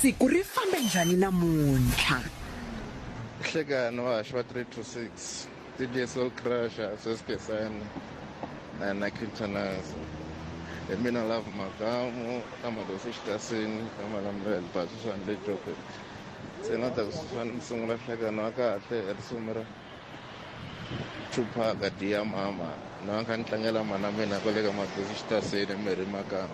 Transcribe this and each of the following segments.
Siku ri fambe njhani namuntlha? Nhlekani wa haxa wa 3 to 6, Didier Soul Crusher, Sweswi Khensani na yena Khintanaza. Hi mina Love Makamu, ka Madosi Xitasini, ka Malambele, Basu Swandle Joke. Se na ta ku sungula nhlekani wa kahle hi risimu ra Tupac, Dear Mama. Na nga ni tlangela mana mina kwale ka Madosi Xitasini, Mary Makamu.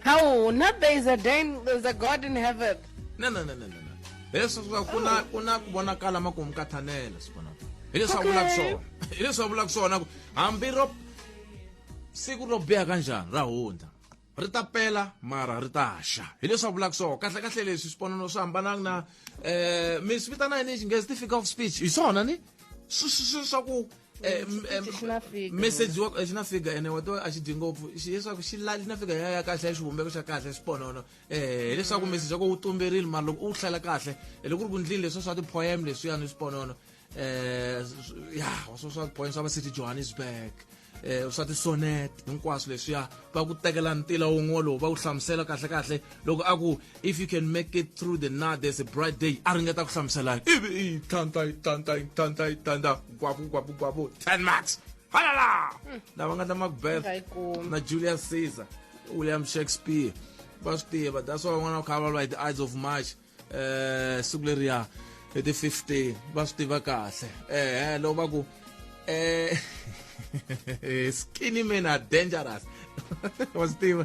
How? Not there is a day, there's a God in heaven. No, no, no, no, no. no. Yesu swa ku na ku na ku vonakala ma ku mukathanela sibona. Hi leswi a vulaka swona. Hi leswi a vulaka swona ku hambi ro siku ro biha kanjani ra hundza ri ta pela mara ri ta xa hi leswi a vulaka swona kahle kahle leswi swiponano swi hambanaka na um mi swi vitana yini xinghezi ti-figure of speech hi swona ni swa ku Eh, m- eh, Chiphichi xi na fika. message wa xi na fika ene wa to a xi dyi ngopfu xi leswaku xi la xi na fika ya ya kahle ya xivumbeko xa kahle xiponono eh hileswaku message wa ko wu tumberile mara loko u wu hlela kahle eh, loko ku ri ku ndlini leswi swa ti-poem leswiyani swiponono eh s- ya swa swa poem swa va city johannesburg eh swa tisonet hinkwaswo leswiya va ku tekela ntila wun'we lowu va ku hlamusela kahle kahle loko a ku if you can make it through the night there's a bright day a ringeta ku hlamusela ivi i thanta i thanta i thanta i thanta gwavu gwavu gwavu 10 marks halala lava nga ta macbeth Ngayikumi. na julius caesar william shakespeare va swi tiva that's why van'wana va kha va lwa hi ti-ides of march um siku leriya hi ti 15 va swi tiva kahle ehe loko va ku um skinny men are dangerous wa swi tiva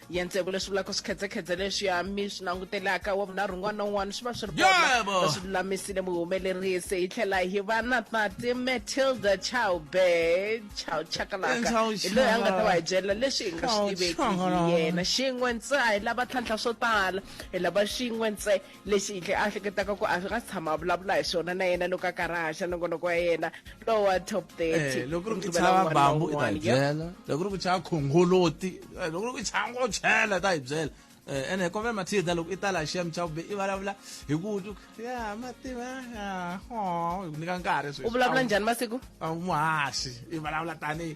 ya ntsevu leswi vulaka swikhedzekhedze leswi ya mi swi langutelaka wa vunharhu un'wana na un'wana swi va swi ri kona swi lulamisile muhumelerisi hi tlhela hi va na tati matilda chowbe chow chakalaka hi loyi a nga ta va hi byela leswi hi nga swi tiveki hi yena xin'we ntsee hi lava tlhantlha swo tala hi lava xin'we ntsee lexi hi tlhe a hleketaka ku a swi nga si tshama a vulavula hi swona na yena loko a karhi a haxa nongonoko ya yena lowa top thirty eh, loko ri ku chava bambu i ta hi byela loko ri ku chava khongoloti eh, loko ri ku chava ngo chela ta hi byela eh, ene kombe mathida loko i ta la shem cha kube i vulavula hi ku ya mativa ya ho hi ku nyika nkarhi sweswi u vulavula njhani masiku a muhaxi i vulavula tanihi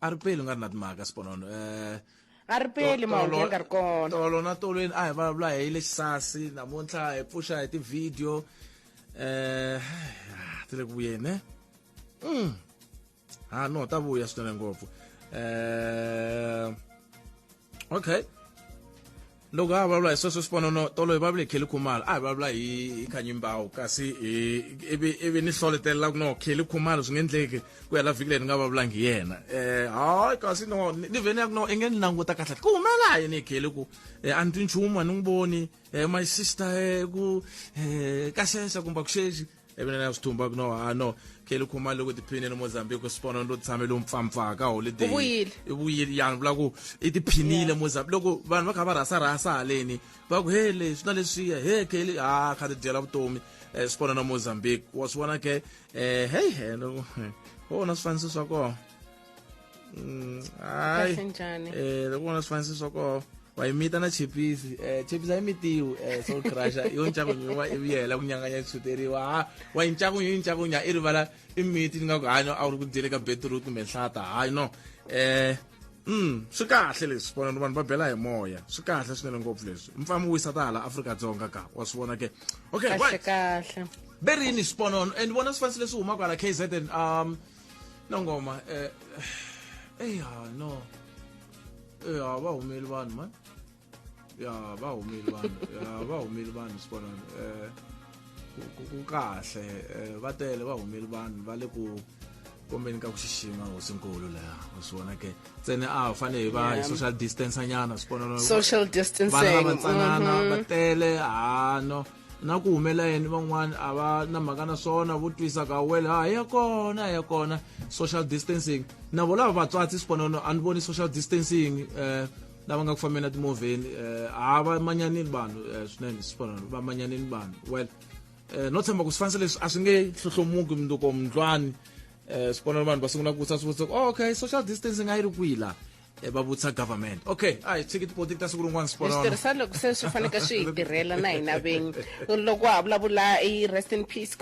a ri peli u nga ri na timhaka siponono um eh, a ri peli mahungu ya nga ri kona tolo na tolweni a hi vulavula hi le xisasi namuntlha hi pfuxa hi tivhidiyo um eh, ti le ku vuyeni ne mm. ha no ta vuya swinene ngopfu um okay loko a vulavula hi sweswo swiponono tolo hi vulavule hi kheli khumalo a hi vulavula hi khanyimbawu kasi ivi ni hloletelela ku no kheli khumalo swi nge endleki ku hela vhiki leyi ni nga vulavulangi hi yena um hayi kasi no ni vheni ya ku no i nge ni languta kahle ku humela yini hi kheli ku eh, a ni twi nchumu a ni n'wi voni eh, my sister eh, ku ka xexa kumbe ku xexi even na swithumba ku no ha no kheli khumani loko tiphinile mozambique sipona lo tshame lo mpfampfaa ka holiday U vuyile. i vuyile yani vula ku i tiphinile mozambique loko vanhu va kha va rhasa rhasa haleni va ku he leswi na leswiya he kheli ha kha ti dyela vutomi um sipona na mozambique wa swi vona ke um heyi helo ho na swifaniso swa kona Mm, hayi kahle njani eh lokubona sifanise soko wayimita na chipisi eh chipisi ayimitiwe eh so crusher yo nchakunyo wa ibiyela kunyanganya chuteriwa ha wa nchakunyo nchakunyo i rivala i miti ni nga ku hanya a wu ri ku dyele ka beetroot kumbe nhlata hayi no eh Mm, swi kahle leswi vona vanhu va bela hi moya swi kahle swinene ngopfu leswi mfamu wisa ta hala afrika-dzonga ka wa swi vona ke okay kahle right kahle berini sponono and vona swi fanise leswi humaka hala kzn um no ngoma eh eh ya no eh ya va humeli vanhu man ya va humeli vanhu ya va humeli vanhu sibona eh ku- ku kahle eh, va tele va humeli vanhu va le ku kombeni ka ku xixima hosinkulu leya u swi vona ke ntsene a hi fanele hi va hi Yeah. social distance nyana swi vona social vana distancing lavantsanana va tele hano na ku humela yini van'wana a va na mhaka na swona vo twisa ka wele ha ya kona ya kona social distancing na vo lava vatswatsi siponono a ni voni social distancing um lava nga ku fambeni na timovheni um ha va manyanini vanhu um swinene siponono va manyanini vanhu well um no tshemba ku swifanisa leswi a swi nge hlohlomuki mundzuko mundlwani um siponono vanhu va sungula ku vutisa swivutiso oh, okay social distancing a yi ri kwihi laha Eh, va vutisa government okay a hi tshiki tipolotiki ta siku rin'wana switirhisa loko se swi faneke swi hi tirhela na hina vinyi loko ha vulavula i rest in peace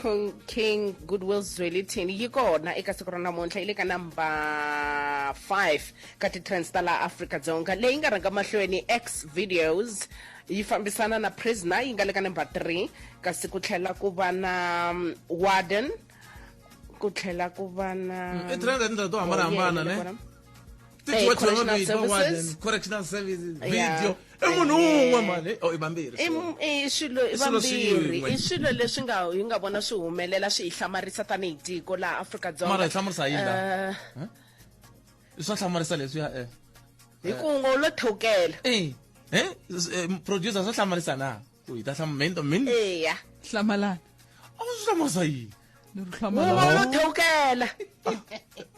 king goodwill zwelithini yi kona eka siku ra namuntlha yi le ka number 5 ka titrends ta laha afrika dzonga leyi nga rhanga mahlweni x videos yi fambisana na prisoner yi nga le ka number 3 kasi ku tlhela ku va na mm, warden ku tlhela ku va na mm, i trend to hambanahambana ne Eh, What you correctional want to do, what services. then? correctional services Yeah. video i munhu Eh. un'we mani oh i vambirhi I m- i swilo i swilo vambirhi swin'we. i swilo leswi nga hi nga vona swi humelela swi hi hlamarisa tanihi tiko laha afrika dzonga Mara hi hlamurisa yini laha? Eh, i swa hlamarisa leswiya eh hi ku ngo lo thewukela eh eh s- eh, producer swa hlamarisa na u yi ta hlama min to min eya hlamalana a wu swi hlamasa yini ni ri hlamala wona lo thewukela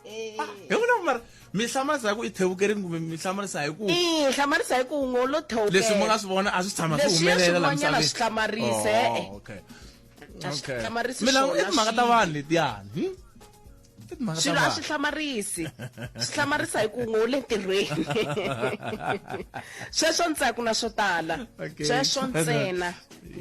hi vona ku mara mi hlamarisa hi ku i thewukerini kumbe mi hlamarisa hi ku i hlamarisa hi ku ngo lo thewukela leswi mi nga swi vona a swi tshama swi Leswi ya humelela la swin'wanyana misaveni. swi hlamarise, Oh, eh. okay. A swi Okay. hlamarisi Mina swona i timhaka ta swilo. vanhu letiyani hmm? swilo a swi hlamarisi swi hlamarisa hi ku n'we u le ntirhweni sweswo ntsena ku na swo tala sweswo ntsena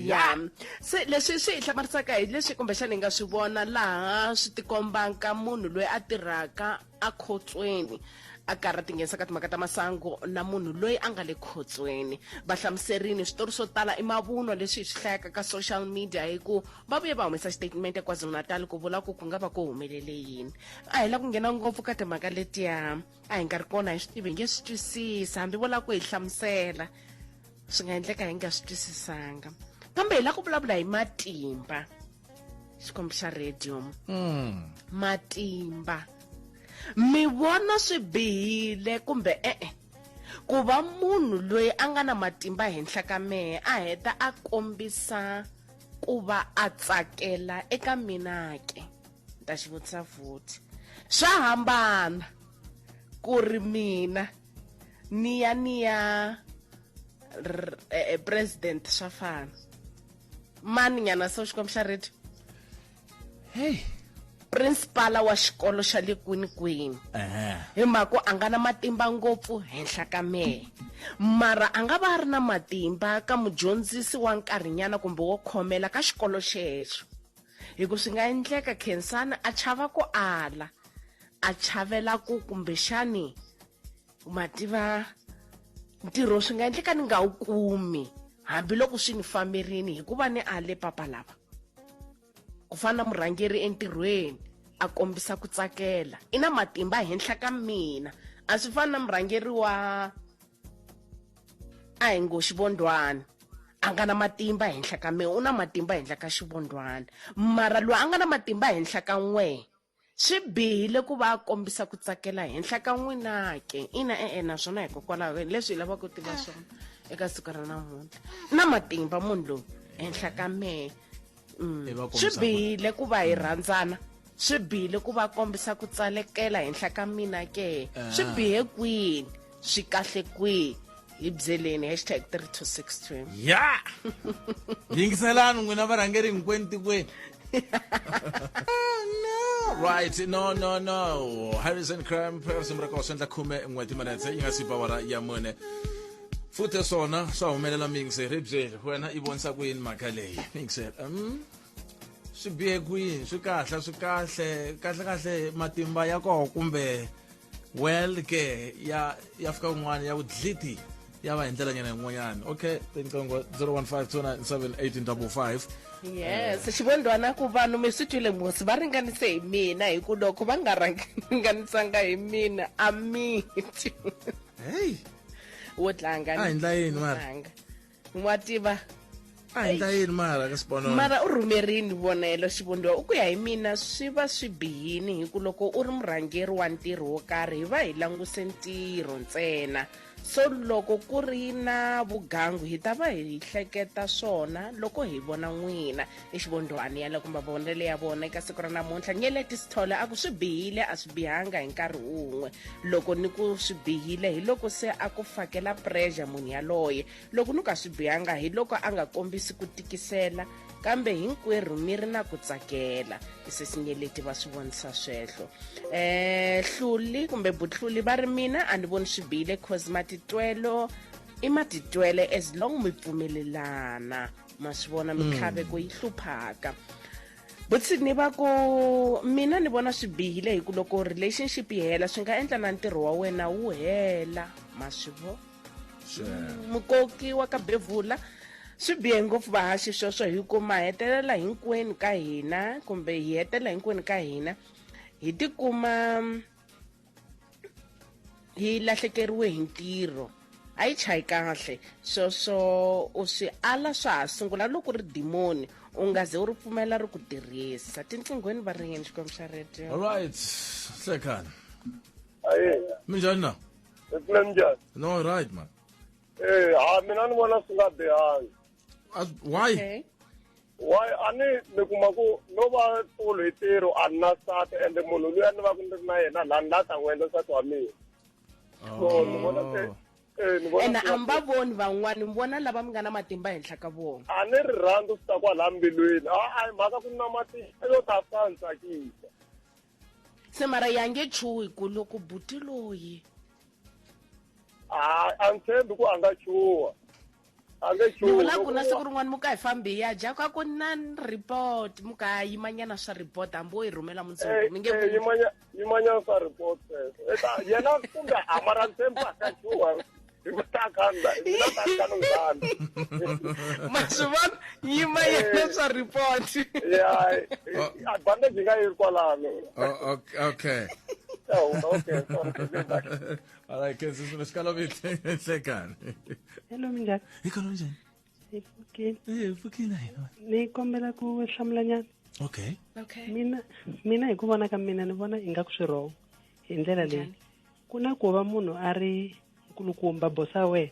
ya se leswi swi hi hlamarisaka hi leswi kumbexana hi nga swi vona laha swi tikombaka munhu loyi a tirhaka a khotsweni a karhi a tinghenisa ka timhaka ta masangu na munhu loyi a nga le khotsweni va hlamuserini switori swo tala i mavunwa leswi hi swi hlayaka ka social media hi ku va vuye va humesa xitatimende ekwazulu-natal ku vula ku ku nga va ku humelele yini a hi la ku nghena ngopfu ka timhaka letiya a hi nga ri kona hi swi tivi hi nge swi twisisi hambi vo lava ku hi hlamusela swi nga endleka hi nga swi twisisanga kambe hi la ku vulavula hi matimba xikombo xa radium hmm. matimba mi vona swi bihile kumbe e-e ku va munhu loyi a nga na matimba henhla ka mehe a heta a kombisa ku va a tsakela eka mina ke ni ta xi vutisa futhi swa hambana ku ri mina ni ya ni ya eh, eh, president swa fana mani nyana so xikwembu xa radio hey principala wa xikolo xa le kwinikwini hi mhaka a nga na matimba ngopfu henhla ka mehe mara a nga va a ri na matimba ka mudyondzisi wa nkarhinyana kumbe wo khomela ka xikolo xexo hi ku swi nga endleka khensani a chava ku ala a chavela ku kumbexani ma tiva ntirho swi nga endleka ni nga wu kumi hambiloko swi ni famberini hikuva ni ale papa lava ku fana na murhangeri entirhweni a kombisa ku tsakela i na matimba henhla ka mina a swi fani na murhangeri wa a hi ngo xivondwana a nga na matimba henhla ka mina u na matimba henhla ka xivondwana mara loyi a nga na matimba henhla ka n'wee Swi bihile ku va a kombisa ku tsakela henhla ka n'wina ke ina e-e naswona hikokwalaho leswi hi lavaka ku tiva swona eka siku ra namuntlha na matimba munhu loyi henhla ka mehe mm. swi bihile ku va hi rhandzana swi bihile ku va kombisa ku tsalekela henhla ka mina ke swi eh. bihe kwini swi kahle kwihi hi byeleni hashtag 326 ya yingiselani n'wina varhangeri hinkwenu tikweni right no no no harrison cramp risimu ra kona swi endla khume n'hweti minetse yi nga si bawara ya mune futhi swona swa humelela mingse ri byeli wena i vonisa ku yini mhaka leyi mingse um swi bihe kwihi swi kahle swi kahle kahle kahle matimba ya koho kumbe well ke ya ya fika un'wana ya ku dliti ya va hi ndlela nyana yin'wanyana okay tinqingo 015 yes xivondwana ku vanhu mi swi twile mosi va ringanise hi mina hi ku loko va nga ringanisanga hi mina a miti hey wo tlanga a hi ndla yini mara wa tiva a hi ta yini mara ka xiponono mara u rhumerini vonelo xivundhiwa u ku ya hi mina swi va swi bihini hi ku loko u ri murhangeri wa ntirho wo karhi hi va hi languse ntirho ntsena so loko ku ri na vugangu hi ta va hi hleketa swona loko hi vona n'wina exivondhwani ya le ku mavonelo ya vona eka siku ra namuntlha nyeleti sithole a ku swi bihile a swi bihanga hi nkarhi wun'we loko ni ku swi bihile hi loko se a ku fakela pressure munhu yaloye loko ni ka swi bihanga hi loko a nga kombisi ku tikisela kambe hinkwerhu mi ri na ku tsakela isesinyeleti va swi vonisa swehlo um hluli kumbe butluli va ri mina a ni voni swi bihile cause matitwelo i matitwele as long mi pfumelelana ma swi vona mm. mintlhaveko yi hluphaka vutsini va ku mina ni vona swi bihile hi ku loko relationship yi hela swi nga endla na ntirho wa wena wu hela ma swi vo mukoki wa ka bevula swi bihe ngopfu vahaxi sweswo hi ku ma hetelela hinkwenu ka hina kumbe hi hetelela hinkwenu ka hina hi tikuma yi lahlekeriwe hi ntirho a yi chayi kahle sweswo u swi ala swa ha sungula loko ri dimoni u nga ze u ri pfumela ri ku tirhisa tinqinghweni va ringeni xikwembu xa radio alright hlekani aye minjhani na mina njhani no right man eh ha mina ni vona swi nga bihanga As- why okay wa a ni mi kuma ku no va tolo hi tirho a ni na sati ende munhu loyi a ni va ku ni ri na yena laha ni la ta n'wi endla nsati wa mina so ni vona se Oh. eh, ni vona ena swi a nga mi va voni van'wani mi vona lava mi nga na matimba henhla ka vona a ni ri rhandzu swi ta kwala mbilwini a a hi mhaka ku na matimba yo ta fika ni tsakisa se mara ya nge chuhi ku loko buti loyi a a ni tshembi ku a nga chuha a nge ni vula ku na siku rin'wana muka hi fambi ya dya ka ku na report muka yimanyana swa report hambi wo yi rhumela mundzuku eh, mi nge eh, yimanyana swa report eh, yena kumbe a mara ni tshembi a ka chuha hi ku taka hina ta ta lungana ma swi vona nyima yena eh. swa report ya oh. advantage nga yi kwalano oh, okay Oh, okay. All right, ke sisi ngesikhala bithi enhlekani. Hello minjani? Ikhona njani? Ifukile. Eh, ifukile yena. Ni kombela ku hlamula nyana. Okay. Okay. Mina mina hi ku vona ka mina ni vona ingaku swi wrong. Hi ndlela leyi. ku na ku va munhu a ri nkulukumba bosa wena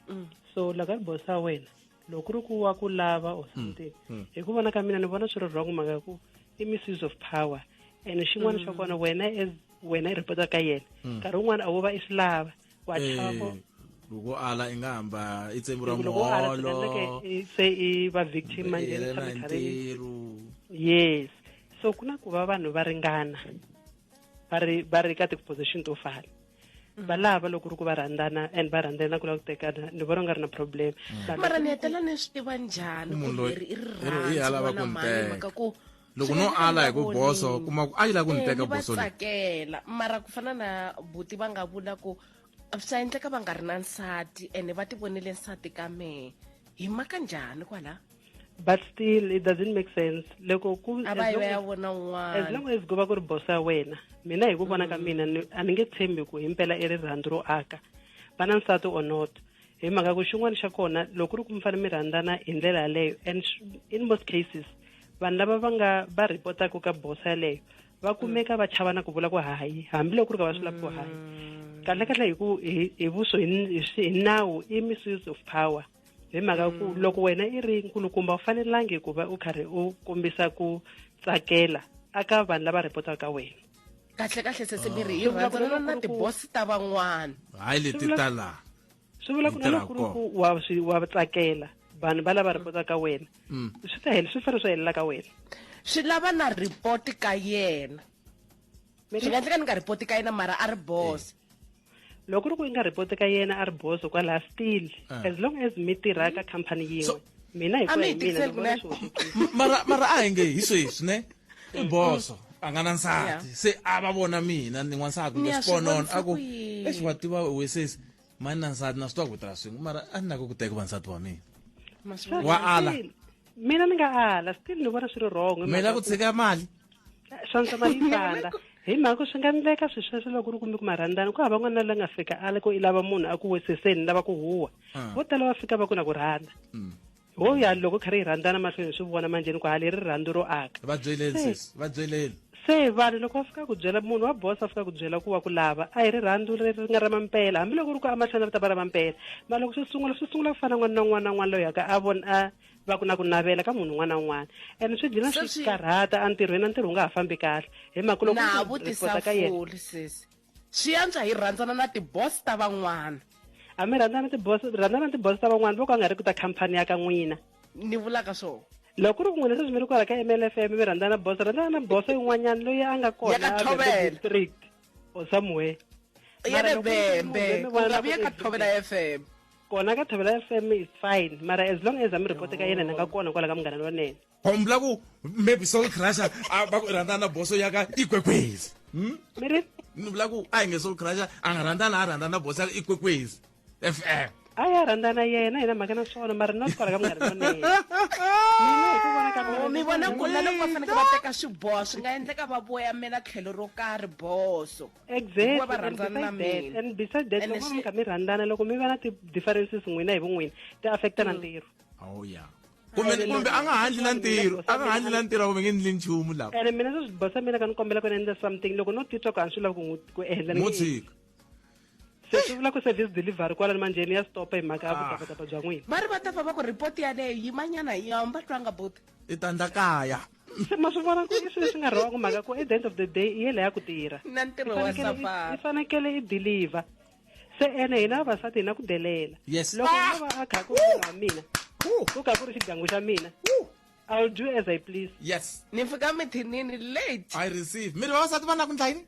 mm. so loko a ri bosa wena loko ku ri ku wa ku lava or mm. something mm. hi ku vona ka mina ni vona swi ri wrong mhaka ku i misuse of power and xin'wana xa kona wena as wena i repota ka yena nkarhi wun'wana a wo va i swi lava wa chava eh, loko ala i nga hamba i tsembu ra muholo se i va victim manje yes so ku na ku va vanhu va ringana va ri va ri ka ti-position to fana mm. va lava loko ri ku va rhandzana and va rhandzana ku lava ku tekana ni vona u nga ri na problem mm. mara ni hetela ni swi tiva njhani ku leri i rirhandzimaka ku loko no ala hi ku boso kuma ku a yi lava ku ni eh, teka boso tsakela mara ku fana na buti va nga vula ku swa endleka va nga ri na nsati ene va ti vonele nsati ka mehe hi maka njhani kwala but still it doesn't make sense loko ku as long as ku va ku ri boss ya wena mina hi ku vona ka mm. mina a ni nge tshembi ku himpela i rirhandzu ro aka va na nsati or not hi mhaka ku xin'wana xa kona loko ku ri ku mi fanele mi rhandzana hi ndlela yaleyo and in most cases vanhu lava va nga va ripotaka ka boss yaleyo va mm. kumeka va chava na ku vula ku hayi hambiloko ku ri ka va swi lavi ku hayi mm. kahlekahle hi ku hi vuso hi nawu i misuse of power hi mhaka ku mm. loko wena i ri nkulukumba u fanelangi ku va u karhi u kombisa ku tsakela aka vanhu lava rhipotaka ka wena kahle kahle sesemiri hi rhandzana na tibosi ta van'wana hayi leti ta laha swi vula ku na lokuluku wa swi wa tsakela vanhu va lava rhipota ka wena mm. swi ta hela swi fanele swi helela ka wena swi lava na rhipoti ka yena swi nga endleka ni nga rhipoti ka yena mara a ri boss loko ri ku i nga report ka yena a ri boso kwalaha still ah. as long as mi tirha ka company yin'we mina hi kuya hi mina ni vona swi mara mara a hi nge hi sweswi ne i mm. boso a nga na nsati se a va vona mina ni n'wansati kumbe xiponono a ku exi wa tiva wesesi mani na nsati na swi twa ku tirha swin'we mara a ni lako ku teka va nsati wa mina wa ala mina ni nga ala still ni vona swi ri wrong mina ku tshika mali swa ndza malipanda hi mhaka swi nga endleka swi sweswo loko ri kumbe ku marhandzana ku hava n'wana la nga fika ala ku i lava munhu a ku weseseni lava ku huwa ah. vo tala va fika va ku na ku rhandza mm. ho ya loko kha ri yi rhandzana mahlweni swi vona manjheni ku hali ri rhandzu ro aka va byeleni sesi va byeleni se vanhu loko va fika ku byela munhu wa bosa a fika ku byela ku wa ku lava a hi rirhandzu ri ri nga ra mampela hambiloko ri ku amahlweni ri ta va ra mampela mara loko swi sungula swi sungula ku fana n'wana na n'wana na n'wana loyi yaka a vona a va ku na ku navela ka munhu un'wana na un'wana and swi dlina swi swi karhata entirhweni a ntirho wu nga ha fambi kahle hi mhaka loko na vutisa ka yena foli sesi swi yantswa hi rhandzana na tiboss ta van'wana a mi rhandzana tiboss rhandzana tiboss ta van'wana loko a nga ri ku ta khampani ya ka n'wina ni vulaka swona loko ri ku n'wina sweswi mi ri kwala ka mlfm mi rhandzana na boss rhandzana na boss yin'wanyana loyi a nga kona district or somewhere ya le vembe ku nga vi ya ka thobela fm kona ka thobela fm is fine mara as long as amiripoti ka yena ni nga kona kwala ka munghana lonene hombla ku maybe soul crusher a va ku rhandana na boso ya ka ikwekwezi hmm? mi ri ni vula ku a hi nge soul crusher a nga rhandzana a rhandzana na boso ya ka ikwekwezi fm a ya rhandzana yena hi na mhaka na swona mara not kwala ka munghana lonene mi vona ku na loko va faneke va teka swiboho swi nga endleka va voyamela tlhelo ro karhi boso exactly. hikuva va rhandzana na mina and beside that loko mi kha mi rhandzana loko mi va na ti-differences n'wina hi vun'wini ti affecta na mm. ntirho oh yeah kumbe kumbe a nga handli na ntirho a nga handli na ntirho kumbe nge ndli nchumu lawa ene mina sweswi bosa mina ka ni kombela ku ni endla something loko no titwa ku a ni swi lavi ku endla mo tshika se swi vula ku service delivery kwala ni manjheni ya stopa hi mhaka ya ah. vutapatapa bya n'wina va ri va ta famba ku report yaleyo yimanyana yi hamba twanga boti i tandla kaya se ma swi vona ku i swilo leswi nga wrong mhaka ku at the end of the day i yele ya ku tirha na ntirho wa safari i fanekele i deliver se ene hina vavasati hina ku delela yes. loko ah! no va a kha ku wa mina ku kha ku ri xidyangu xa mina I'll do as I please. Yes. Ni fika mithinini late. I receive. Mi ri vavasati va na ku ndla yini?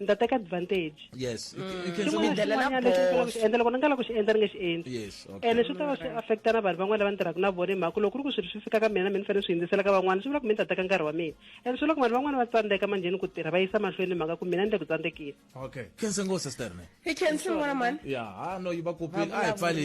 ni ta teka advantage yes you can- you can Xin'wana say- xin'wanyana lexi ni faneleke ku xi endla loko ni nga la ku xi endla ni nge xi endli yes okay ene swi ta va swi affecta na vanhu van'wana lava ni tirhaka na vona hi mhaka ku loko ku ri ku swilo swi fika ka mina mi ni fanele swi hindzisela ka van'wana swi vula ku mi ni ta teka nkarhi wa mina ene swi vula ku vanhu van'wana va tsandzeka manjheni ku tirha va yisa mahlweni hi mhaka ku mina ni le ku tsandzekile okay khense ngose sterne hi khensi ngwana mani ya ha no yi va kopile a hi pfali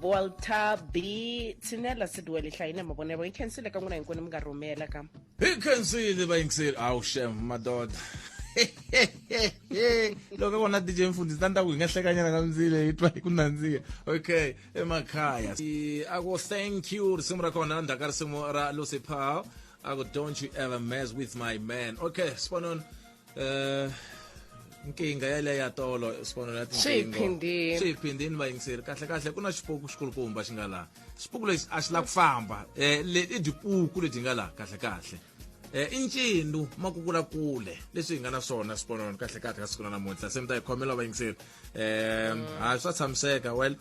volta b tshinela siduele hlayine mavonelo yi khensile ka n'wina hinkwenu mi nga rhumela ka hi khensile vayingiseli awu shem madoda loko vona dj mfundisi ta ni ta ku hi nga hlekanyana ka mindzile hi twa hi ku nandziha okay emakhaya a ku thank you risimu ra kona ndzhaku ka risimu ra lucy pow a ku don't you ever mess with my man okay sibononi eh nkinga yaleyo ya tolo sibonelo ya tinkingo swiyiphindini vayingiseri kahle kahle ku na xipuku xikulukumba xi nga laha xipuku lexi a xi la ku famba um i dipuku leti nga laha kahle kahle um i ncinu makukula kule leswi hi nga na swona sibonelo kahle kahle ka siku na namuntlha se mi ta hi khomela vayingiseri um ha swa tshamiseka well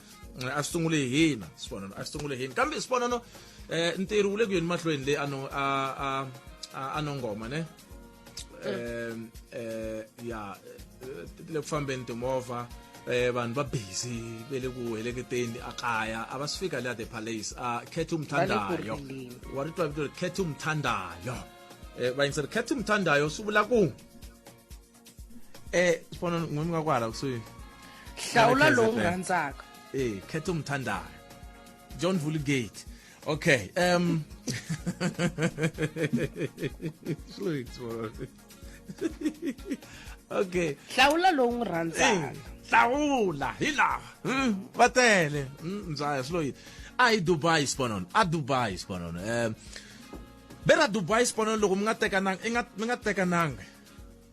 a swi sungule hi hina sibonelo a swi sungule hi hina kambe sibonelo um ntirho wu le ku yeni mahlweni leyi a no a a a nongoma ne um um ya ti le ku fambeni timovha um vanhu va busy ve le ku heleketeni a kaya a va si fika le a the palace a khethe umthandayo wa ri twa vito ri khethe umthandayo um va yingiseri khethe umthandayo swi vula ku um swi fana n'wi mi nga ku hala kusuhi hlawula lowu rhandzaka e khetha umthandayo john vulgate Okay. Um. okay. Hlawula lowu n'wi rhandzaka. Eh, hlawula hi laha hmm, va tele mzaya hmm, siloyi a hi dubai sponon a dubai sponon um eh, bera dubai sponon loko mi nga tekananga i nga mi nga tekananga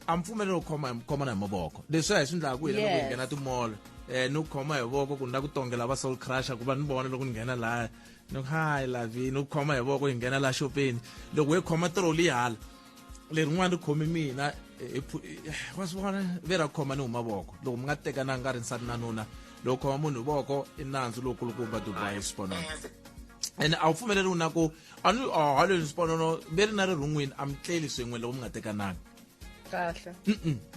a mi pfumeleli ku khoma khomana hi mavoko leswi hi swi endlaka ku hina loko hi nghena timolo um eh, ni ku khoma hi voko ku ni la ku tongela va soul crusher ku va ni vona loko ni nghena laya ni ku hi lavi ni ku khoma hi voko hi nghena laha xopeni loko hi khoma troli hala lerin'wana ri khome mina eh, eh, wa swi vona ve ra khoma ni huma voko loko mi nga tekananga nga ri nsati na nuna loko khoma munhu hi voko i nandzu lowu kulukumba dubai swi vonaka ene a wu pfumeleriwi na ku a ni a ha leswi xiponono ve ri na ri rhungwini a mi tleli swin'we loko mi nga tekananga kahle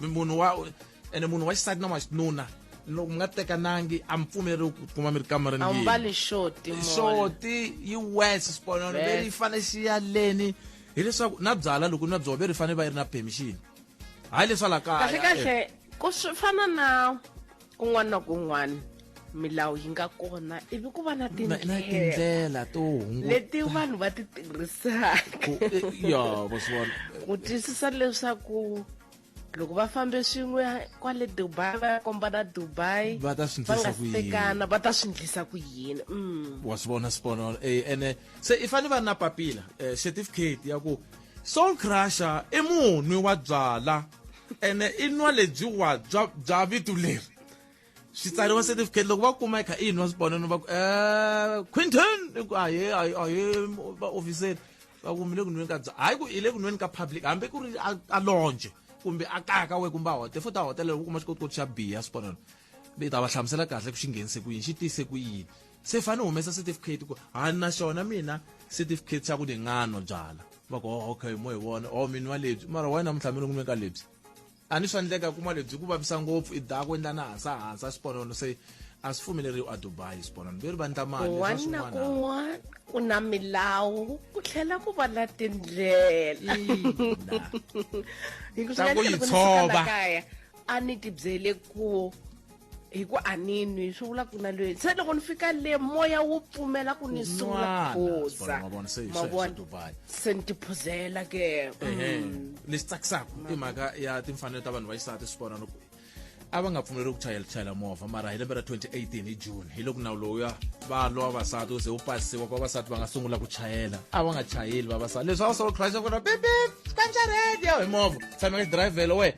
munhu wa ene munhu wa xisati na wa xinuna loko mi nga tekanangi a mi pfumeri ku kuma mi ri kamareni a wu mbali xoti xoti yi wes xiponono ve ri yi fane xi ya leni hileswaku na byala loko ni na byona ve ri fane va yi ri na permission hayi leswa la kaya kahle kahle ku swi fana na kun'wana na kun'wana milawu yi nga kona ivi ku va na tindlela to leti vanhu va ti tirhisaka ku twisisa leswaku loko va fambe swin'we kwale dubai va ya komba na dubai va ta swi ndlisa ku yini va ta swi ndlisa ku yini mm. wa swi vona swipono eh, ene se i fanele va na papila eh, certificate ya ku soul crusher i munwi wa byala ene i nwa lebyiwa bya bya vito leri swi tsariwa certificate loko va kuma kha i nwa swiponeno va ku um quinton i ku ahe ahe vaofiseri va ku mi le ku nweni ka bya hayi ku i le ku nweni ka public hambi ku ri a lonje kumbe a kaya ka we kumbe a hote futhi a hotelelo ku kuma xikotikoti xa biya swiponeno ni ta va hlamusela kahle ku xi nghenise ku yini xi tise ku yini se fane ni humesa certificate ku ha na xona mina certificate xa ku ni nga nwa byala va ku oh, okay mo hi vona o oh, mi nwa lebyi mara why namuntlha mi lungume ka lebyi a ni swa ndleka kuma lebyi ku vavisa ngopfu i da ku endla na hansa hansa xiponono se a swi pfumeleriwi a dubai xiponono veri va ndla mali wana kun'wana ku na milawu ku tlhela ku va na tindlela yi tshova a ni tibyele ku hi ku a ni nwi swi vula ku na loyi se loko ni fika le moya wu pfumela ku ni sungula phuza mavona se ni tiphuzela ke mm. lexi tsakisaka i mhaka ya timfanelo ta vanhu va xisati swi vona loko a va nga pfumeleriwi ku chayela chayela movha mara hi lembe ra 2018 hi june hi loko nawu lowuya va lwa vavasati u ze wu pasisiwa ku vavasati va nga sungula ku chayela a va nga chayeli vavasati leswi a wu solo crash ku ri pipip kanjaredi ya hi movha tshameka xidrayivhelo wena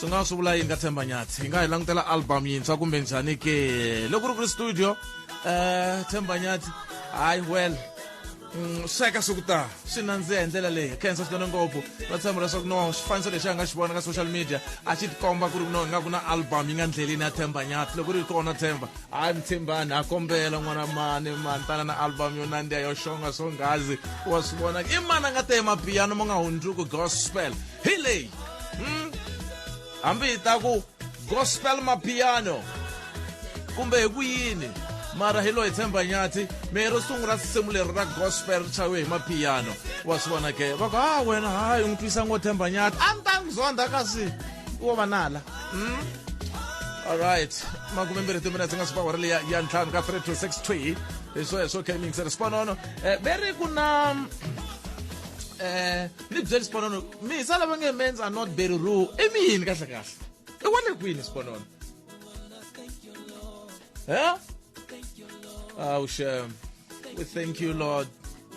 swi nga swi vula yi nga tshemba nyatsi yi nga hi langutela album yintshwa kumbe njhani ke loko ri ku ri studio um tshemba nyatsi hayi well mm, sweka swi ku ta swi nandziha hi ndlela leyi khensa swinene ngopfu va tshemba leswaku no xifaniso lexi a nga xi vona ka social media a xi tikomba ku ri no nga ku na album yi nga ndleleni ya tshemba nyati loko ri ri kona tshemba hayi mtshembani ha kombela n'wana mani mani tana na album yo nandziha yo xonga swongazi wa swi vona i mani a nga te mapiyano ma nga hundzuku gospel hi leyi hmm? hambi hi ta ku gospel mapiano kumbe hi ku yini mara hi loyi tshemba nyathi mehe ro sungula risimu leri ra gospel ri chayiwe hi mapiano wa swi vona ke va ku ha wena hayi u n'wi twisa ngo tshemba nyathi a ni ta n'wi zonda kasi wo va nala hmm? alright makume mbirhi timinetse nga sipawara leya ya ntlhanu ka 3 to 6 twi hi swo hi swo kmingse ri siponono um eh, ve ri ku na um ni byeli sponono mi sa lava nge mens are not very rule i mi yini kahle kahle i wale kwini sponono he awu shem we thank you lord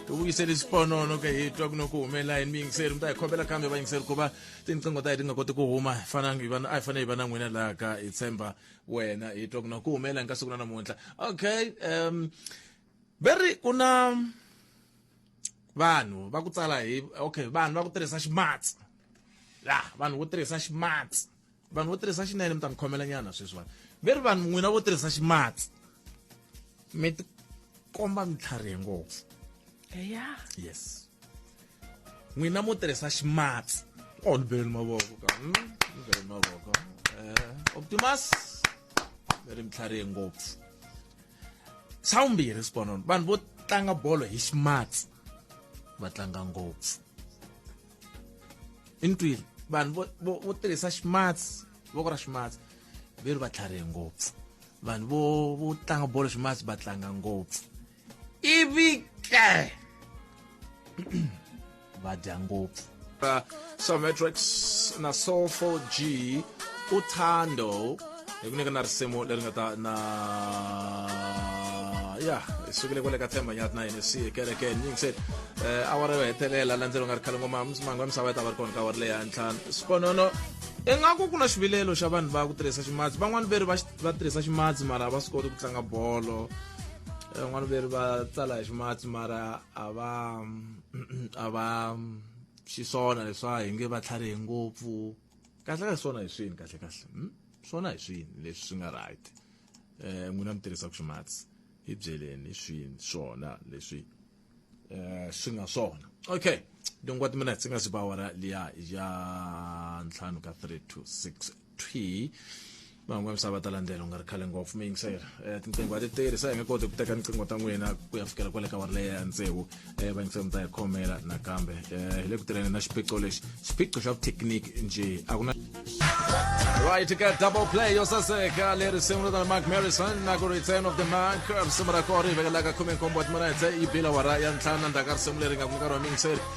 ubuyisela isiponono ke hitwa kunoku humelela yini miyingiseri umntu ayikhobela kambe vayingiseri kuva tinqingo ta hi ti nga koti ku huma fananga hi vana a hi fanele hi va na n'wina laha ka hi tshemba wena hitwa kunoku ku humelela hi ka siku na namuntlha okay um very ku na vanhu va ku tsala hi okay vanhu va ku tirhisa ximatsi la vanhu vo tirhisa ximatsi vanhu vo tirhisa xinene mi ta ni khomela nyana sweswi vanhu ve ri vanhu n'wina vo tirhisa ximatsi mi ti komba mi tlharihe ngopfu eya yes n'wina mo tirhisa ximatsi o oh, ni bele ni mavoko ka ni hmm, bele ni mavoko um optimus ve ri mi tlharihe ngopfu xa vumbirhi xiponono vanhu vo tlanga bolo hi ximatsi va tlanga ngopfu i ntwini vanhu vo tirhisa ximatsi voko ra ximatsi ve ri va tlharihe ngopfu vanhu vo vo tlanga bolo ximatsi va tlanga ngopfu ivi ke va dya ngopfu uh, sometrix na soul 4 g uthando hi ku nyika na risimu leri nga ta na ya hi sukile kwale ka themba nyati na yini si ekerekeni nyingi se eh, awara yo hetelela la ndzelo nga ri khale ngoma manga wa misava yi ta va ri kona ka awara leyi ya ntlhanu sponono ingaku ku na xivilelo xa vanhu va ku tirhisa ximatsi van'wani veri va tirhisa ximatsi mara va swi koti ku tlanga bolo van'wani veri va tsala hi ximatsi mara a va mm, a va xiswona leswa hi nge va tlharihi ngopfu kahle kahle swona hi swini kahle kahle hmm? swona hi swini leswi swi nga right um n'wina mi tirhisaka ximatsi hi byeleni hi swini swona leswi um swi nga swona okay dongwa timinetse nga si ba wara liya ya ntlhanu ka three to six thwi van'wana misava va ta landzela u nga ri khale ngopfu mi yingisela um tinqingho a ti tirhi se hi nge koti ku teka tinqingho ta n'wina ku ya fikela kwale ka wari leyi ya ntsevu um va yingisela mi ta yi khomela nakambe um hi le ku tirheni na xiphiqo lexi xiphiqo xa vuthekiniki nje a ku na right ka double play yo saseka leri sungula na mark marison na ku return of the mark risimu ra kona ri hi vekelaka khume nkombo wa timinetse yi bila wara ya ntlhanu na ndzhaka risimu leri nga ku nkarhi wa mingiseri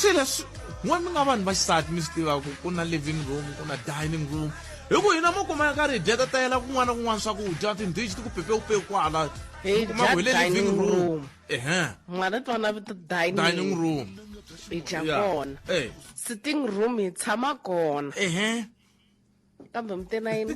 swi leswi n'we mi nga vanhu va xisati mi swi tiva ku ku na living room ku na dining room hi ku hina mo kuma ya ka ridya ta tayela kun'wana na kun'wana swakudya tindhichi ti ku pepeupewu kwala hi kuma ku hi le living room ehe mwana twana vito dining dining room hi dya Yeah. kona Eh. sitting room hi tshama kona ehe kambe mi te na yini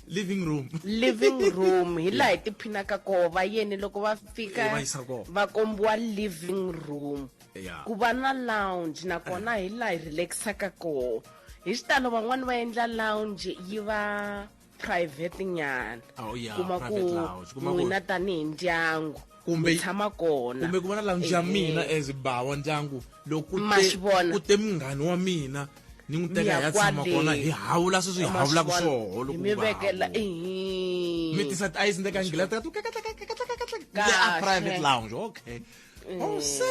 living room living room hi laha hi tiphinaka koho va yeni loko va fika Eh, va yisa koho. va kombiwa living room Yeah. ku va na lounge nakona hi laha hi relaxaka koho hi xitalo van'wani va endla lounge yi va private nyana Oh, yeah, kuma ku private lounge. Kuma ku- n'wina tanihi ndyangu kumbe yi tshama kona kumbe ku va na lounge ya mina as bawa ndyangu loko ku Ma te- swi vona. ku te munghani wa mina ni n'wi teka hi ya tshama Miyakwale. kona hi hawula sweswi hi hawulaka swoho loko mi ku va vekela hawula. ehe. mi tisa tiayisi ni teka ngilata ka tu Kahle. a private lounge okay oh se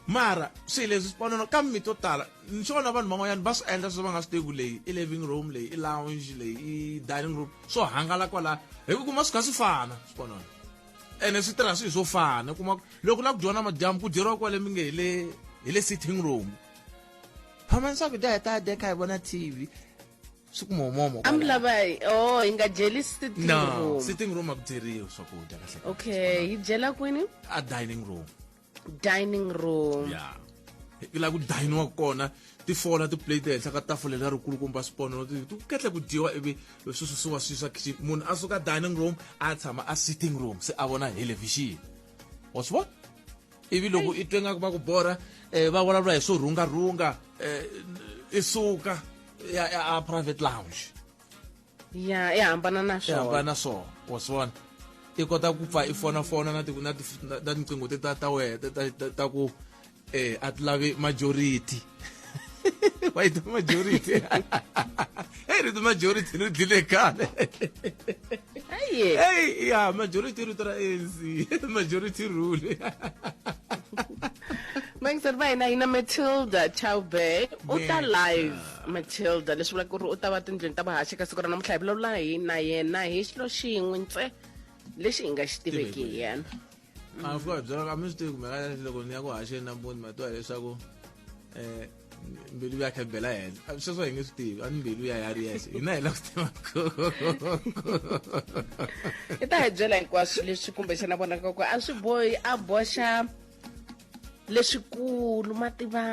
mara swilo leswi swi panono ka mi to tala ni swona vanhu van'wanyana va swi endla sweswi va nga swi tivi leyi i living room leyi i lounge leyi i dining room swo hangalaka kwalaya hi ku kuma swi kha swi fana swi panono ene swi tirha swilo swo fana kuma loko la ku dyona madyambu ku dyeriwa kwale mi nge hi le hi le sitting room phamani swakudya hi ta dya kha hi vona tv swi kumomomo amlava o oh, hi nga dyeli sitting room sitting room a ku dyeriwi swakudya kahle okay hi dyela kwini a dining room dining room ya hi la ku dayiniwa kona tifola tiplate ehenhla ka tafula leri kulukumba swipono ku kahle ku dyiwa ivi swi susiwa swi swa kitchen munhu a suka dining room a tshama a sitting room se a vona helevhixini wa swi vona ivi loko i twe ngaku va ku borha um va vulavula hi swo rhungarhunga um i suka ya a private lounge ya i hambana na swona hambana na swona wa swona i kota ku pfa i fona fona na na na tinqingo te ta ta we ta ta ku eh a ti lavi majority wa yi majority hey ri majority ri dlile kale hey ya majority ri tra ANC majority rule Thanks, Arvina. Ina Matilda Chaube. Uta live. matilda leswi vulaka ku ri u ta va tindlwini ta vuhaxi ka siku ra namuntlha hi vulavula hi na yena hi xilo xin'we ntse lexi hi nga xi tiveki hi yena a fika hi byela ka mi swi tivi kumbe ka loko ni ya ku haxeni nampundzi ma twa hileswaku um mbilu ya khebela hela sweswo hi nge swi tivi a ni mbilu ya ya ri yexe hina hi la ku tiva i ta hi byela hinkwaswo leswi kumbexana vonaka ku a swi bohi a boxa leswikulu ma tiva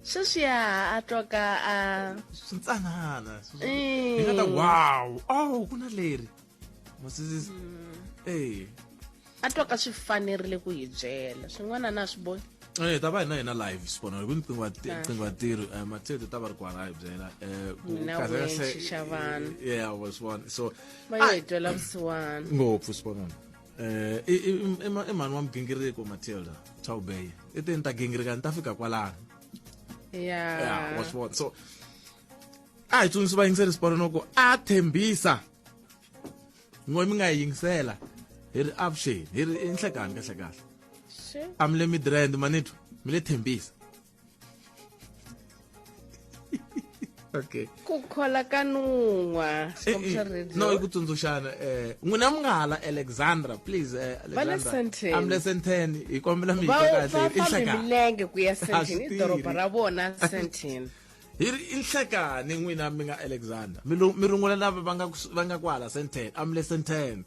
sweswiya a twoka a swintsanana Eh. hi nga ta wow oh ku na leri masisi Mm. eh a twoka swi fanerile ku hi byela swin'wana na swi boni Eh, ta va hina hina live sibona hi ku riqingho riqingho tirhi eh, mathete ta va ri kwala hi byela eh ku Mina kahle wehe kahle- nxixa vanhu. yeah was one so va yo hi twela vusiwana ngopfu sibona eh i- i i ma- i mhani wa migingiriko matilda chawubeye i te ni ta gingirika ni ta fika kwalano yeah ya wa swi vona so a hi tsundzuxi vayingiseri siporo no ku a tshembisa ngo mi nga yi yingisela hi ri avuxeni hi ri i nhlekani kahlekahle Sure. a mi le midrand manitwa mi le tshembisa okay ku khola ka nun'wa no i ku tsundzuxana eh n'wina mi nga hala alexandra please eh, am le senten hi kombela mi kahle milenge ku ya senten i doroba ra vona senten hi ri i nhlekani n'wina mi nga alexandra mi rungula lava va nga va nga kwala senten am le senten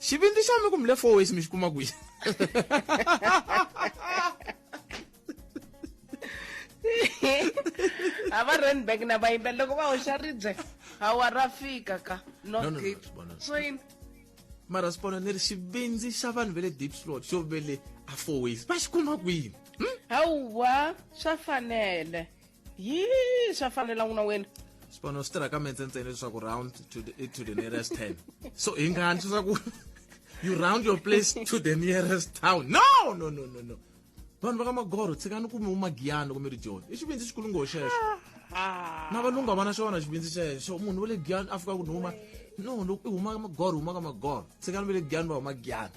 xivindzi xa mi kumile four ways mi xi kuma kwihi a va randback na vayimbelela loko va hoxa ribye hawa ra fika ka No, no, no, northgate sibona. so yini mara sibona ni ri xivindzi xa vanhu va le deep slot xo ve le a four ways va xi kuma kwini hawa swa fanele yi swa fanela n'wina wena xipano swi tirha ka mentsentseni leswaku round to the, to the nearest ten so hi ngani leswaku you round your place to the nearest town no no no no no vanhu va ka magoro tshikani ku mi umagiyani loko mi ri joni i xivindzi xikulu ngo xexo ah. na valungu a va na xona xivindzi xexo munhu wa le giyani a fika ku ni huma no loko i huma ka magoro huma ka magoro tshikani va le giyani va huma giyani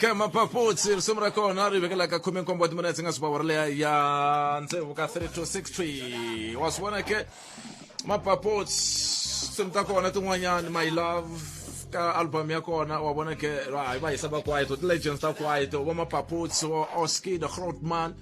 ka mapapotsi ri simu ra kona ri vekela ka khume nkombo wa timinetse nga suba wara leya ya ntsevu ka 3 to 6 twi wa swi vona ke mapapotsi tinsimu ta kona tin'wanyani my love ka album ya kona wa vona ke hi va hisa va kwaito ti-legends ta kwaito va mapapotsi wa oskid grootman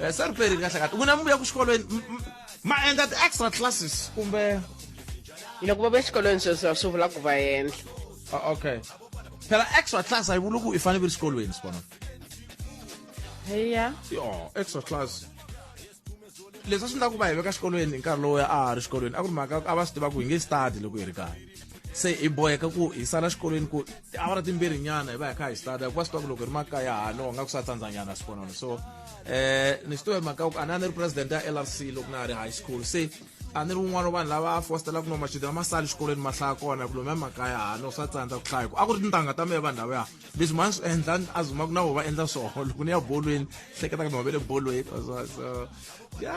Eh, se ri perile kahle kahle ku na muvuya ku xikolweni m- m- ma endla ti-extra classes kumbe loko va va exikolweni sweswo swi vula ku va endla Ah, okay phela extra class a yi vuli ku i fanele i ri xikolweni sibona heya yo extra class leswi a swi endla ku va hi veka xikolweni hi nkarhi lowu a ha ri xikolweni a ku ri mhaka a va swi tiva ku hi nge study loko hi ri kaya se hi boheka ku hi sala xikolweni ku awara timbirhi nyana hi va hi kha hi starta ku va swi tiva ku loko ri makaya hano nga ku sa tsandza nyana swikonano so eh ni swi tiva hi mhaka ku a ni a ni ri president ya l r c loko na ha ri high school se a ni ri un'wana wa vanhu lava fostelaka no machudeni ma sali xikolweni ma hlaya kona ku lomu ya makaya hano swa tsandza ku hlaya ku a ku ri tintangha ta mehe vanhu lava ya leswi ma ni swi endla a zuma ku na vo va endla swoho loko ni ya bolweni hleketa ka ni wa ve le bolweni so ya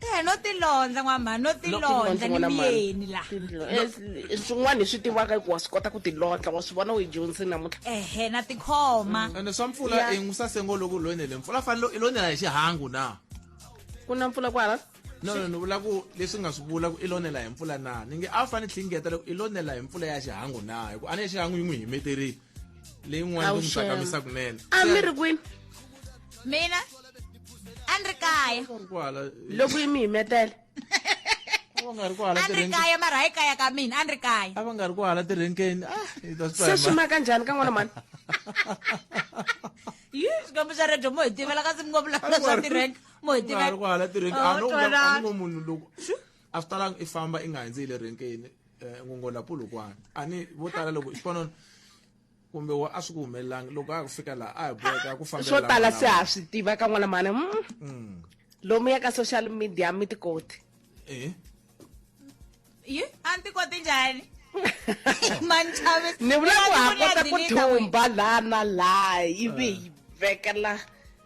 Eh, no tilondza n'wamhani no tilondza ni miyeni la eh, swin'wana hi swi tivaka ku wa swi kota ku tilondla wa swi vona u yi dyondzini namuntlha ehe na tikhoma mm. ene swa mpfula i n'wi sasengo loku lonele mpfula fanele i lonela hi xihangu na ku na mpfula kwala no no ni vula ku leswi nga swi vula ku i lonela hi mpfula na ni nge a wu fanele tlhingeta loko i lonela hi mpfula ya xihangu na hi ku a ni ya xihangu yi n'wi himeterile leyin'wana ku mi tsakamisa kunene a mi ri kwini mina a ni ri kaya loko yi mi yimetele va nga ri ku hala tirheni kaya mara hayi kaya ka mina a ni ri kaya a va nga ri ku hala tirhenkeni ah se swi ma kanjhani ka n'wana mani yi xikwembu xa redio mo hi tivela kasi mi ngo vulavula swa tirhenka mo hi tivela ku hala tirhenka a no munhu loko a swi talanga i famba i nga hundzi hi le renkeni eh, ngongola pulukwana a ni vo tala loko xipanoni kumbe wa a swi ku humelelanga loko a ku fika laha a hi boheka ku fambela swo lava tala lava. se ha swi tiva ka n'wana mhana mm. Mm. lomu ya ka social media mi tikoti Eh, yi a ni tikoti njhani manchavisi ni vula ku ha kota ku thumba laha na laha ivi hi vekela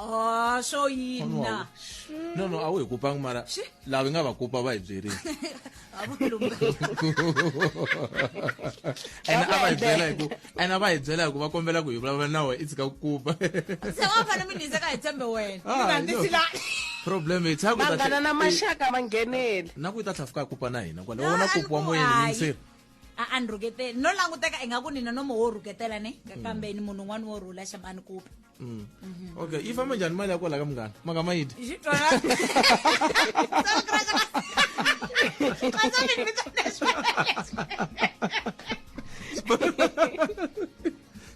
Ah, swo yina no no a wu hi kupanga mara Xi? lava hi nga va kupa va hi byerile a vo lungha and a va hi byela hi ku and a va hi byela hi ku va kombela ku hi vulavula na wena i tshika ku kupa se wa fana mi nizeka hi tshembe wena Ah, Vanhu no. tisila- problem i tshaka vanghana na maxaka va ngheneli na ku yi ta tlhafuka a kupa na hina kwale wona kupiwa moyeni Hayi. minseri a a ni rhuketeli no languteka ingaku ni nonomo wo rhuketela ne ka- kambe ni munhu un'wana wo rhula xama ni kupa Mm. okay yi famba njhani mali ya kwala ka munghana maka ma yi dya Yi twala. Xitsotso mi ni vitana leswi.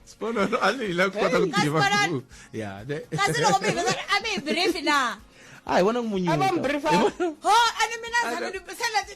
sponono a ni hila ku kota ku Kasi tiva Sponono- ku ya ne kasi loko mi hi vitana a mi hi brief na a hi vona ku munyu Ava mi briefa. ho a ni mina ni tshame ni se leti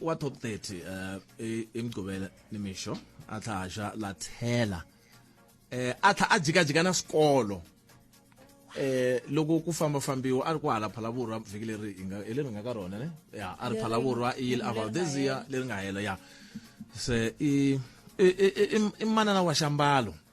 wa top 30 uh, eh, imgqibela nimisho atlha aja lathela eh atlha ajikajika na sikolo eh loko ku famba fambiwa a ri ku hala phalavurwa vhiki leri hi nga leri nga ka rona ne ya a ri phalavurwa i yile about this year leri nga hela ya se i i manana wa xambalo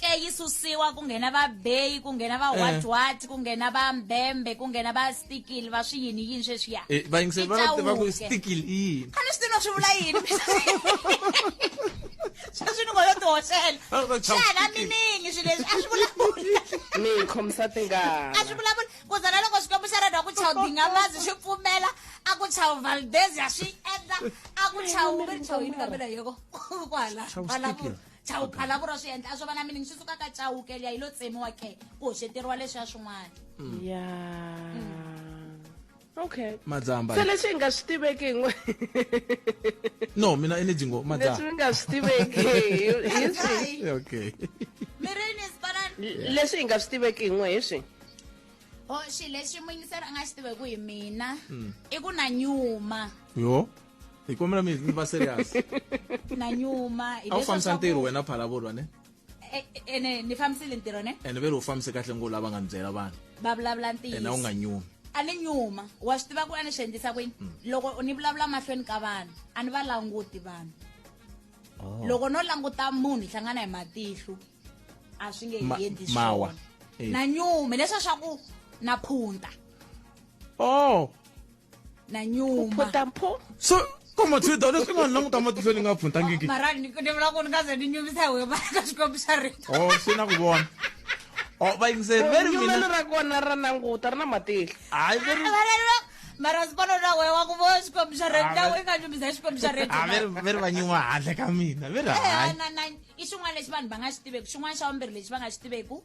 ke yi susiwa ku nghena va beyi ku nghena va watwat ku nghena va mbembe ku nghena va stikil va swi yini yini sweswiya Eh, vayingiseli va va tiva ku Itawuke. stikil i yini a ni swi tivi no swi vula yini sweswi ni ngo yo tihoxela Va lava ku chava xana stikil. miningi swi leswi a swi vulavuli mi hi khomisa a swi tingana vulavuli ku za na loko xikwembu xa rena ku chawu dingamazi xi pfumela a ku chawu valdezia swi endla a ku chawu mi ri chawu yini kambe na yeko ku hala Chawu vulavula stikil. chauke a lavura swi endla a swo va na mini swi suka ka chauke liya yi lo tsemiwa ke ku hoxeteriwa leswi ya swin'wana mm. ya mm. okay madzamba se leswi hi nga swi tiveki n'we no mina energy ngo madzamba leswi nga swi tiveki hi swi okay mirini sibanan leswi hi nga swi tiveki n'we hi swi o oh, xi lexi muyingiseri a nga xi tiveki hi mina mm. i ku na nyuma yo hi kombela mi mi va serious na nyuma a wu fambisa ntirho wena phalavulwa ne e, e, ene ni fambisile ntirho ne ene ve ri u fambise kahle ngo lava nga ni byela vanhu va vulavula ntiyiso ene a wu nga nyumi a ni nyuma wa swi tiva ku a ni swi endlisa kwini mm. loko ni vulavula mahlweni ka vanhu a ni va languti vanhu oh. loko no languta munhu hi hlangana hi matihlu a swi nge hi endli swona eh. na nyume leswa swa ku na phunta oh na nyuma phota mpho so komathida leswi nga ni languta matihlo ni nga phuntangiki mara ni ni vula ku ni nga ze ni nyumisa hi wena ka xikwembu xa rito o swi na ku vona o va yingiseli veri nyumelo mina ra kona ra nanguta ri na matihlo hayi veri Abalelwa, mara ndzi vona na wena wa ku vona xikwembu xa rito Ah, na wena nga nyumisa hi xikwembu xa rito a veri veri va nyuma handle ka mina veri hayi na na i xin'wana lexi vanhu va nga xi tiveki xin'wana xa vumbirhi lexi va nga xi tiveki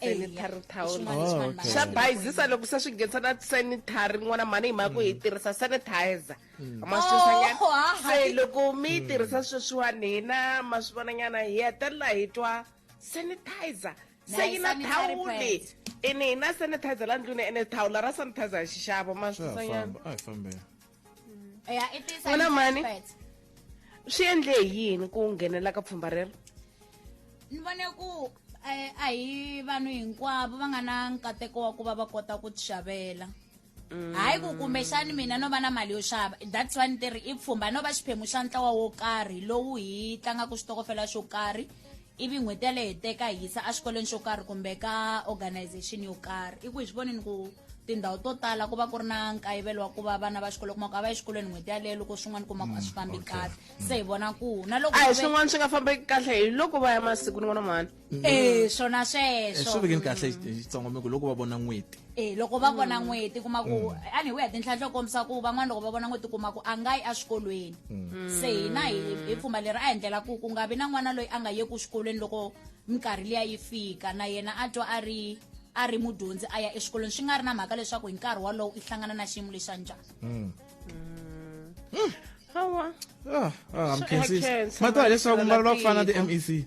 sanitary towel oh, xa bayizisa loko se swi nghenisa na sanitary n'wana mhani hi mhaka ku hi mm. tirhisa sanitizer mm. maswisanyana oh, se loko mi yi mm. tirhisa sweswiwani hina ma swi vonanyana hi hetelela hi twa sanitizer se yi na thawuli ene hi na sanitizer la ndlwini ene thawula ra sanitizer hi xixavo maswisanyana wena mani swi endle hi yini ku nghenela ka pfhumba rero ni vone ku eh, a hi vanhu hinkwavo va nga na nkateko wa ku va va kota ku xavela mm. hayi ku kumbexani mina no va na mali yo xava that's one ti ri i pfhumba no va xiphemu xa ntlawa wo karhi lowu hi tlangaka xitokofela xo karhi ivi n'hweti yaleyo hi teka hi yisa exikolweni xo karhi kumbe ka organization yo karhi i ku hi swi vonini ku tindhawu to tala ku va ku ri na nkayivelo wa ku va vana va xikolo kuma ku a va yi xikolweni n'hweti yaleyo loko swin'wana kuma ku a swi fambi mm, kahle mm. se hi vona ku na loko a hi swin'wana swi nga fambeki kahle hi loko va ya masiku ni vona mhani e swona sweswo eh, swi vekeni kahle xitsongo mi ku loko va vona n'hweti e loko va vona mm. n'weti kuma ku mm. a ni wi ya tinhlanhla yo kombisa ku van'wana loko va vona n'weti kuma ku a nga yi eswikolweni mm. se hina hi pfumba leri a endlela ku ku nga vi na n'wana loyi a nga yeku xikolweni loko minkarhi liya yi fika na yena a twa a ri a ri mudyondzi a ya exikolweni swi nga ri na mhaka leswaku hi nkarhi wolowo i hlangana na xiyimo lexa njhani hawa ah, ah, mkhensi matiwa leswaku mi vulavula ku fana na ti-mec